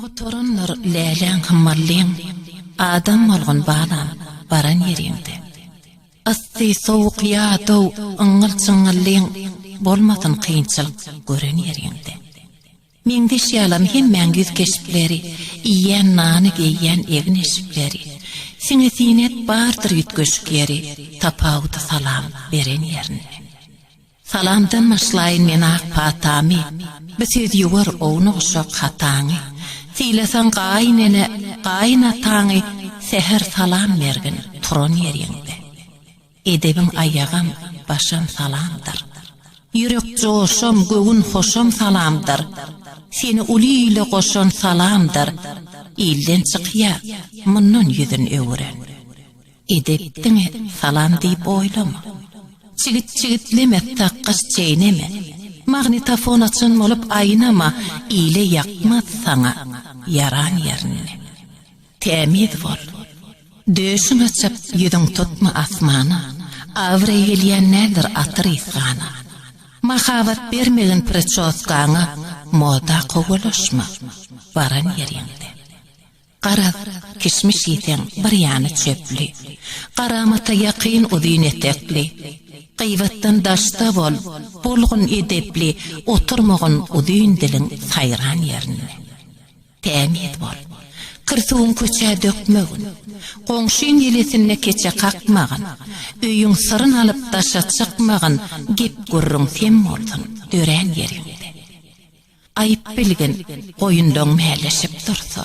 Oturanlar läläň hem mallyň, Adam bolgun balam, baran ýeriňde. Yssy, sowuk ýa dow, yňňyl-çyňňyllyň, Bolmasyn kynçylyk, gören ýeriňde. Meňzeş ýalam hemmäň ýüz keşpleri, Iýýän nany, geýýän egin-eşikleri. Siňe-siňek bardyr üýtgeşik ýeri, Tapawudy salam, beren ýerinde. Salamdan başlaýyn men ak patamy, Bu söz ýuwar ownuk-uşak hataňy. Sylasaň gaýynene, gaýynataňy, Säher salam bergin, turan ýeriňde. Edebiň aýagam, başam salamdyr. Ýürek joşam, göwün hoşam salamdyr. Seni uly ile goşan salamdyr. Ilden çykýa, mundan ýüzün öwüren. Edep diňe salam diýip oýlama. Çigit-çigitleme, takgaş çeýneme. Magnitofon açan bolup aýnama, ile ýakmaz saňa ýaran ýerinde. Tämiz bol. Döşüň açyk, ýüzüň tutma asmana, abraý gelýän nädir atyr ysgana. Mahabat bermegin priçoskaňa, moda kowalaşma, baran ýeriňde. Garaz, kişmiş iýseň, bir ýany çöpli. Garamata ýakyn uzyn etekli. Gyýbatdan daşda bol, bolgun edepli, oturmagyn uzyn diliň saýran ýerinde. Tämiz bol. Kir suwuň köçä dökmegin. Goňşyň ýelesinde keçe kakmagyn. Öýüň syryn alyp daşa çykmagyn, gep-gürrüň sem bolsun, dörän ýeriňde. Aýyp bilgin, goýundan mäleşip dursa,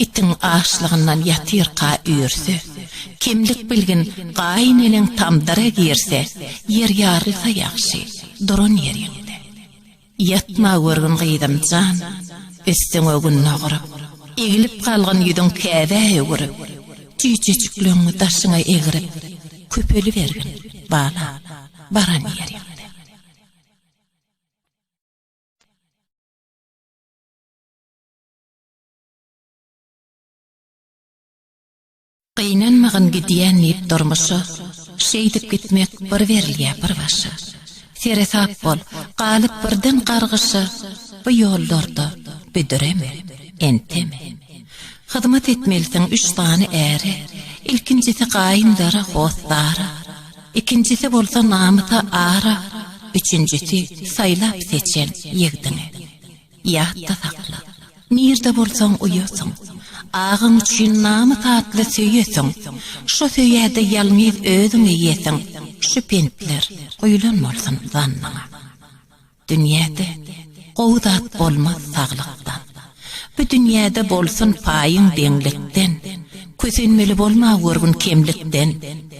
itiň açlygyndan ýatyrka üýrse, kemlik bilgin, gaýyn eneň tamdyra girse, ýer ýarylsa ýagşy, duran ýeriňde. Ýatma görgün gyzym jan, üstüňe gün doguryp, egilip galgyn ýüzüň käbä öwürip, tüýjejikleňňi daşyňa egrip, köpelibergin, balam, baran ýeriňde. Gynanmagyn gidýän diýip durmuşa, Şeýdip gitmek bir berilýä bir başa. Seresap bol, galyp birden gargyşa, Bu ýollarda büdüreme, enteme. Hyzmat etmelisiň üç sany äre, Ilkinjisi gaýyndara, hossara, Ikinjisi bolsa namysa ara, üçünjisi saýlap-seçen ýigdiňe. Ýatda sakla, nirde bolsaň uýasyň, agaň üçin namys atly söýesiň, şo söýäde ýalňyz özüň iýesiň, şu pentler guýlan bolsun zannyňa. Dünýäde gowy zat bolmaz saglykdan, Bu dünýäde bolsun paýyň deňlikden, Kösenmeli bolma görgün kemlikden,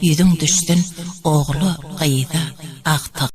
Ýüzüň düşsün ogla, gyza, agta.